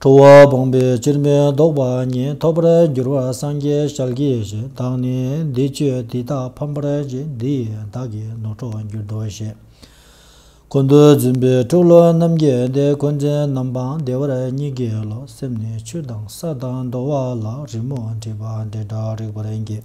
ཁྲོ་བོ་བུང་བས་སྤྱིར་མི་ལྡོག་པ་ཉིད་ཐོབ་པར་འགྱུར་བར་སངས་རྒྱས་ཞལ་གྱི་ཞིང་དག་ནི་འདི་ཆོས་འདི་དག་ཕམ་པར་བྱེད་འདི་ཡི་བདག་གི་ནོར་འཕྲོག་འགྱུར་དོ་ཞེས། ཀུན་ཏུ་བརྫུན་པའི་སྤྲུག་བློ་རྣམ་རྒྱལ་འདི་འཁོན་འཛིན་རྣམ་སྤངས་བདེ་བར་གཉིས་ཀའི་བློ་སེམས་ནི་ཆུ་དང་ས་དང་རྡོ་བ་ལ་རི་མོ་བྲིས་པ་འདི་འདྲ་རིགས་པར་འགྱེད།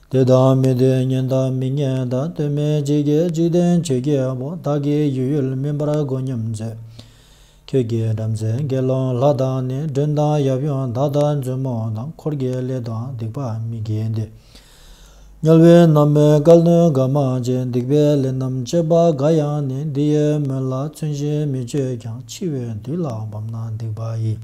དེ་དང་མི་དེའི་གཉེན་དང་མི་གཉེན་དང་སྟོད་སྨད་ཇི་སྐད་ཅིག་བསྟན་བྱའི་རྒྱལ་པོ་དག་གིས་ཡུལ་ཡུལ་མིན་པར་མགོ་སྙོམས་མཛད། ཁྱོད་ཀྱིས་བྲམ་ཟེ་དགེ་སློང་ལྷ་དང་ནི་སྦྲུལ་དང་ཡབ་ཡུམ་དག་དང་མཛུབ་མོ་དང་འཁོར་གྱི་ལས་དང་སྡིག་པ་མི་དགེ་འདི་སྨྱོ་བའི་ན་མོའི་བཀའ་བློན་དགའ་མ་ཅན་སྡིག་པའི་ལས་རྣམས་སྤྱད་པ་འགའ་ཡང་ནི་འདི་ཡི་མོད་ལ་ཚུན་བཞིན་མི་སྤྱོད་ཀྱང་འཆི་བའི་དུས་ལ་བབ་ན་སྡིག་པ་ཡི།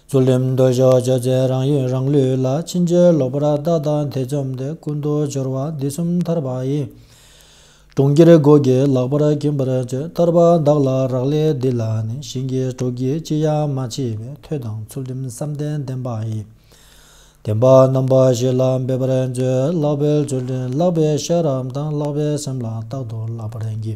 རྫོགས་རིམ་མདོ་བཞི་བརྗོད་བྱའི་རང་ཡུལ་རང་ལུས་ལ་ཕྱིན་ཅི་ལོག་པར་བདག་དང་ཐེ་ཚོམ་དེ་ཀུན་ཏུ་སྦྱོར་བ་འདི་གསུམ་ཐར་པ་ཡིན། གྲོང་ཁྱེར་སྒོ་བརྒྱའི་ལག་པར་གྱིན་པར་བརྗོད་ཐར་པ་བདག་ལ་རག་ལས་འདི་ལ་ནི་ཞིང་གི་གྲོགས་ཀྱི་ཅི་ཡང་མ་མཆིས་པས་ཐོས་དང་ཚུལ་ཁྲིམས་བསམ་གཏན་བདེན་པ་ཡིན། བདེན་པ་རྣམ་པ་བཞི་ལ་འབད་པར་མཛོད་བཀླག་པའི་མཛོད་འདི་བཀླག་པའི་ཤེས་རབ་དང་བཀླག་པའི་སེམས་ལ་རྟག་ཏུ་བཀླག་པར་བགྱི།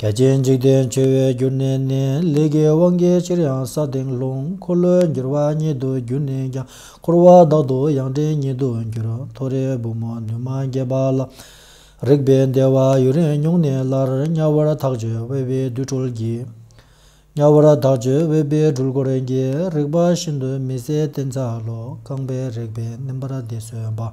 རྒྱལ་བསྟན་འཇིག་རྟེན་འཆོལ་བའི་རྒྱུ་གནས་ནི། ལས་ཀྱི་དབང་གིས་ཅིར་ཡང་ས་སྟེང་ལྷུང། འཁོར་ལོས་འགྱུར་བ་ཉིད་དུ་གྱུར་ནས་ཀྱང། འཁོར་བ་བདག་ཏུ་ཡང་འདྲེན་ཉིད་དུ་འགྱུར། མཐོ་རིས་བུ་མོ་ནུས་མ་རྒྱས་པ་ལ། རེག་པའི་བདེ་བ་ཡུན་རིང་མྱོང་ནས་སླར། དམྱལ་བར་ཐག་ཆོད་དབལ་བའི་རྡུལ་འཁོར་གྱིས། དམྱལ་བར་ཐག་ཆོད་དབལ་བའི་སྦྲུལ་འཁོར་གྱིས། རེག་པ་ཤིན་ཏུ་མི་བཟད་བསྟེན་ཚར་ལོ། རྐང་པའི་རེག་པས་མནན་པར་བདེ་གསོལ་བ།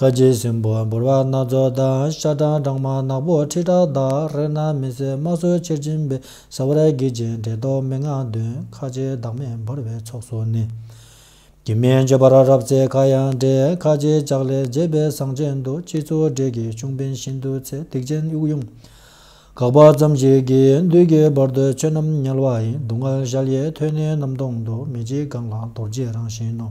ཁ་རྗེ་སྲིན་པོ་འབུར་བ་སྣ་ཚོགས་དང་ཤ་སྦྲང་སྦྲང་མ་ནག་པོ་ཁྲི་ཕྲག་དག་རེག་ན་མི་ཟད་དམག་ཟོལ་ཆེར་འབྱིན་པས་ཟ་བར་བགྱིད་ཅིང་དྲེགས་ཟློག་མི་མངའ་འདོན་ཁ་རྗེ་བདག་མེད་འབུར་བའི་ཚོགས་སུ་ནི། བགྱིད་མི་འགྱོད་པར་རབ་བརྩེ་ཁ་ཡང་འདྲེ་ཁ་རྗེ་ལྕགས་ལས་མཛེས་པའི་ཟངས་ཅན་དུ་སྤྱི་གཙུག་དྲེགས་ཀྱི་གཅུང་བན་བཞིན་དུ་ཚེ་སྡིག་ཅན་དབྱུག་དབྱུང། དགག་པ་ཙམ་ཞིག་གིས་བདུད་ཀྱི་བར་དུ་ཆོས་རྣམས་ཉལ་བ་ཡིན་སྡུག་བསྔལ་ཞལ་གཡས་ཐོད་ནི་གནམ་སྟོང་དུ་མི་འཇིགས་གང་ལ་རྡོ་རྗེའི་རང་བཞིན་ནོ།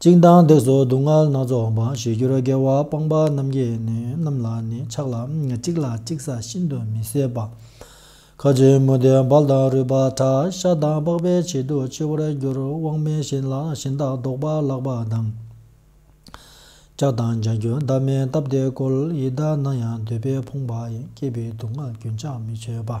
གཅིག་མདངས་བརྡེག་སོགས་སྡུག་བསྔལ་སྣ་ཚོགས་འོང་བ་ཞི་གྱུར་རྒྱལ་བ་སྤངས་པ་རྣམ་རྒྱལ་རྣམས་ལ་ནི་ཆགས་ལ་གཅིག་ལ་གཅིག་ས་ཤིན་ཏུ་མི་བཟད་པ། ཁ་ཆེ་མུ་ཏིག་འབར་དང་རུས་པ་ཁྲ་ཤ་དང་པགས་པའི་བྱེད་དུ་འཆི་བར་འགྱུར་དབང་མེད་བཞིན་ལ་བཞིན་དག་བཟློག་པ་བརླག་པ་དང། ལྕགས་དང་ལྗང་གུ་འདབ་མའི་སྟབས་བདེ་བཀོལ་ཡི་དྭགས་ན་ཡང་འདོད་པས་ཕོངས་པ་སྐྱེས་པའི་སྡུག་བསྔལ་རྒྱུན་ཆགས་མི་ཆོད་པ།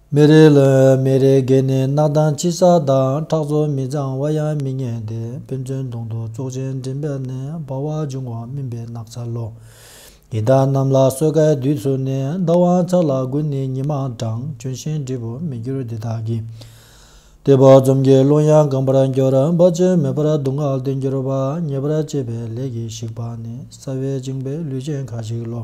མི་རེ་ལ་མི་རེ་བརྒལ་ནས་གནག་དང་ཕྱི་ས་དང་ཁྲག་མཚོ་མི་གཙང་བ་ཡང་མི་ཉན་ཏེ་ཕན་ཚུན་གདོང་དུ་བཙོག་ཅིང་མགྲིན་པ་ནས་འབར་བ་འབྱུང་བ་སྨིན་པའི་སྣག་ཚ་ལོ། ཡི་དྭགས་རྣམས་ལ་སོས་ཀའི་དུས་ཚུགས་ནས་བདག་དབང་ཚག་ལ་བསྒུལ་ནས་ཉི་མ་གྲང་གྱོན་ཞིང་འབྲས་བུ་མི་འགྱུར་འདི་དག་གིས། ལྟེ་བ་འཛུམ་གྱི་རླུང་ཡང་གང་བར་འགྱུར་འབབ་ཅིང་མེད་པར་སྡུག་བསྔལ་དུ་འགྱུར་བ་ཉེ་བར་སྤྱད་པའི་ལས་ཀྱིས་ཞིག་པ་ནི་སྲ་བས་བཅིངས་པའི་ལུས་ཅན་ཁ་ཅིག་ལོ།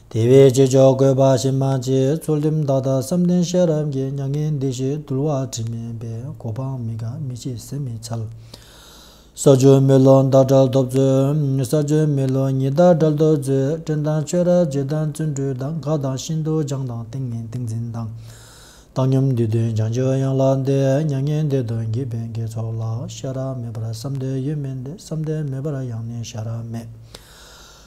དེ་བས་སྤྱི་ཆོག་བཀོད་པ་ཞིག་མ་བྱས་ཚུལ་རིམ་བདག་དང་བསམ་གཏན་ཤེས་རབ་ཀྱི་མྱ་ངན་འདས་ཞེས་དུལ་བ་དྲི་མེད་པས་གོ་འཕང་མི་དགའ་མི་ཕྱེད་ཟིན་མི་འཚལ། གསར་འབྱོར་མི་ལོ་ཟླ་དགྲར་ཐོབ་ཚུལ། གསར་འབྱོར་མི་ལོ་ཉི་ཟླ་དགྲར་ཐོབ་ཚུལ་སྤྲིན་དང་ཆོས་རར་རྗེ་དང་བརྩོན་འགྲུས་དང་དགའ་དང་ཤིན་ཏུ་སྦྱངས་དང་ཏིང་ངེ་ཏིང་འཛིན་དང། བཏང་སྙོམས་འདུས་དོན་བྱང་ཆུབ་ཡང་ལ་འདས་མྱ་ངན་འདས་དོན་བགྱིད་པའི་དགེ་ཚོགས་ལ་ཤེས་རབ་མེད་པར་བསམ་གཏན་ཡོད་མིན་ཏེ་བསམ་གཏན་མེད་པར་ཡང་ནི་ཤེས་རབ་མེད།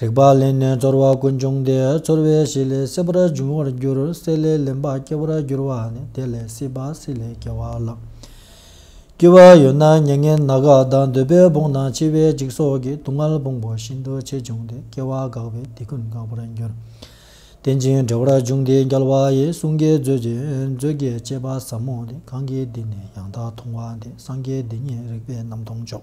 རིག་པ་ལེན་ནས་ཚོར་བ་ཀུན་འབྱུང་སྟེ་ཚོར་བའི་གཞི་ལས་སྲིད་པར་འབྱུང་བར་འགྱུར་སྲིད་ལས་ལེན་པ་སྐྱེ་བར་འགྱུར་བ་ནི་དེ་ལས་སྲིད་པ་སྲིད་ལས་སྐྱེ་བ་ལ། སྐྱེ་བ་ཡོད་ན་མྱ་ངན་ན་ག་དང་འདོད་པའི་བོང་དང་འཆི་བའི་འཇིགས་སོགས་ཀྱི་སྡུག་བསྔལ་བོང་བུ་བཞིན་དུ་ཆེས་འབྱུང་སྟེ་སྐྱེ་བ་འགགས་པས་དེ་ཀུན་འགག་པར་འགྱུར། རྟེན་ཅིང་འབྲེལ་བར་འབྱུང་སྟེ་འགལ་བ་ཡི་གསུང་གི་མཛོད་ཀྱི་མཛོད་དགེ་བཅས་པ་ཟབ་མོ་འདི་གང་གིས་འདི་ནི་ཡང་དག་མཐོང་བ་འདི་སངས་རྒྱས་འདི་ཉིད་རིག་པའི་རྣམ་མཐོང་མཆོག།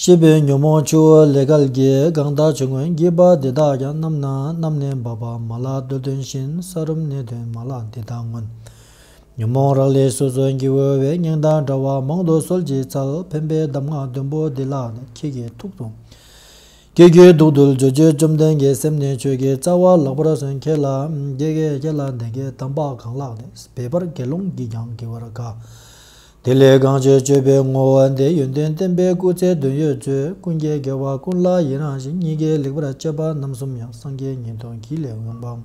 ཤེས་པའི་ཉོན་མོངས་ཆུ་བོ་ལས་གར་གྱི་སྒང་དག་ཆུ་ངོས་འགྱིག་པ་འདི་དག་ཀྱང་རྣམ་སྣང་རྣམ་ལྔའི་འབབ་པ་མ་ལག་སྟོད་དོན་བཞིན་ས་རུམ་སྣེ་དོན་མ་ལག་འདི་དག་མངོན། ཉོན་མོངས་རག་ལས་སོ་སོ་འགྱིག་འོལ་བའི་སྙིང་དང་འདྲ་བ་མང་དུ་སོལ་གྱིས་ཚལ་འཕེན་པའི་གདམས་ངག་བདུན་པོ་འདི་ལ་ཁྱེད་ཀྱི་ཐུགས་དང། ཁྱེད་ཀྱི་གདུགས་དུ་སྦྱོར་རྒྱུ་བཅོམ་ལྡན་འགའི་སེམས་ནས་ཆོས་ཀྱི་རྩ་བ་བརླག་པར་སོན་ཁྱེད་ལ་དགྱེས་དགྱེས་ཁྱེད་ལ་འདི་གའི་དམ་པ་གང་ལགས་ནས་བས་པར་དགེ་སློང་གིས་ཀྱང་དགེ་བར་དགའ། དེ་ལས་གང་བྱེད་སྤྱོད་པའི་བསྔོ་བ་འདི་ཡོན་ཏན་བསྟན་པའི་སྐུ་ཚེ་བདུན་ཡོད་ཚུལ་ཀུན་དགའི་དགེ་བ་ཀུན་ལ་ཡི་རང་ཞིང་གཉིས་ཀའི་ལེགས་པར་སྤྱད་པ་རྣམ་གསུམ་ཡང་སངས་རྒྱས་ཉིད་དོན་གྱི་ལས་ཡོངས་སྤངས།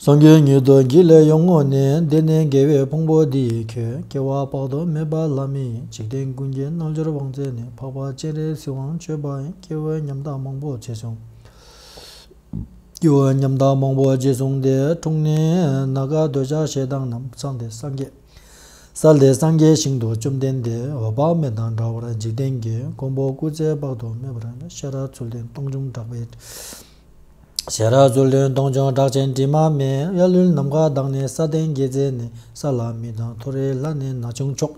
སངས་རྒྱས་ཉིད་དོན་གྱི་ལས་ཡོངས་བསྔོ་ནས་འདི་ནས་དགེ་བའི་ཕུང་པོ་འདི་ཡིས་ཁྱོད་སྐྱེ་བ་དཔག་ཏུ་མེད་པ་ལ་མི་ཡི་འཇིག་རྟེན་ཀུན་གྱི་རྣལ་འབྱོར་དབང་བཙན་ནས་འཕགས་པ་སྤྱན་རས་གཟིགས་དབང་སྤྱོད་པ་ཡིན་སྐྱེ་བོའི་ཉམས་ཐག་མང་པོ་རྗེས་བཟུང། སྐྱེ་བོའི་ཉམས་ཐག་མང་པོ་རྗེས་བཟུང་སྟེ་འཁྲུངས་ནས་ན་ག་འདོད་ཆགས་ཞེ་སྡང་རྣམས་སངས་ཏེ་སངས་རྒྱས། ས་ལས་སངས་རྒྱས་ཞིང་དུ་བཅོམ་ལྡན་འདས་འོད་དཔག་མེད་དང་འདྲ་བར་འཇིག་རྟེན་གྱི་མགོན་པོ་སྐུ་ཚེ་དཔག་ཏུ་མེད་པར་ཤེས་རབ་ཚུལ་ལྡན་སྟོང་འབྱུང་གྲགས་པའི་ཞལ། རབ་ཚུལ་ལྡན་སྟོང་འབྱུང་གྲགས་ཆེན་དྲི་མ་མེད་གཡའ་ལུས་ནམ་མཁའ་དག་ནས་ས་སྟེང་དགེ་རྩེ་ནས་ས་ལ་མི་དང་ཐོ་རེ་ལྷ་ནས་ན་ཆུང་མཆོག།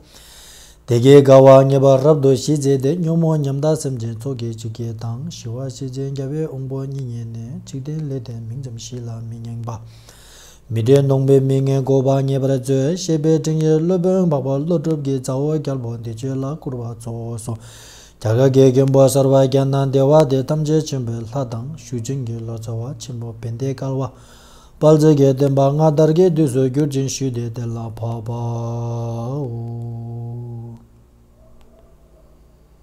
སྡེ་དགེ་དགའ་བ་ངེས་པར་རབ་ཏུ་ཞི་མཛད་དེ་སྙོམས་མོ་ཉམས་དག་སེམས་ཅན་ཚོགས་ཀྱི་འཇིགས་བརྒྱད་དང་ཞི་བ་ཤེས་བྱའི་རྒྱལ་བའི་དབང་པོ་གཉིས་ཉིད་ནས་འཇིག་རྟེན་ལས་དེ་མིང་ཙམ་ཞིག་ལ་མི་བསྙེངས་པ། མི་དྲན་གདོང་པའི་མི་ངན་འགོ་བ་ངེས་པར་མཛོད་ཞེས་པའི་སྤྲིངས་ཡིག་སློབ་དཔོན་འབག་པ་ཀླུ་སྒྲུབ་ཀྱི་ཚ་བོ་རྒྱལ་པོ་འདི་ཆོས་ལ་བཀུར་བ་གཙོ་བོ་སོ། རྒྱ་གར་གྱི་མཁན་པོ་གསར་བ་རྒྱ་ནག་འདི་བ་དེ་ཐམས་ཅད་ཆེན་པོའི་ལྷ་དང་ཞུ་ཆེན་གྱི་ལོ་ཙཱ་བ་ཆེན་པོ་བན་དེ་ཀར་བ་དཔལ་བརྩེགས་ཀྱི་བསྟན་པ་སྔ་དར་གྱི་དུས་སུ་བསྒྱུར་ཅིང་ཞུས་ཏེ་དེ་ལ་འཕགས་པའོ།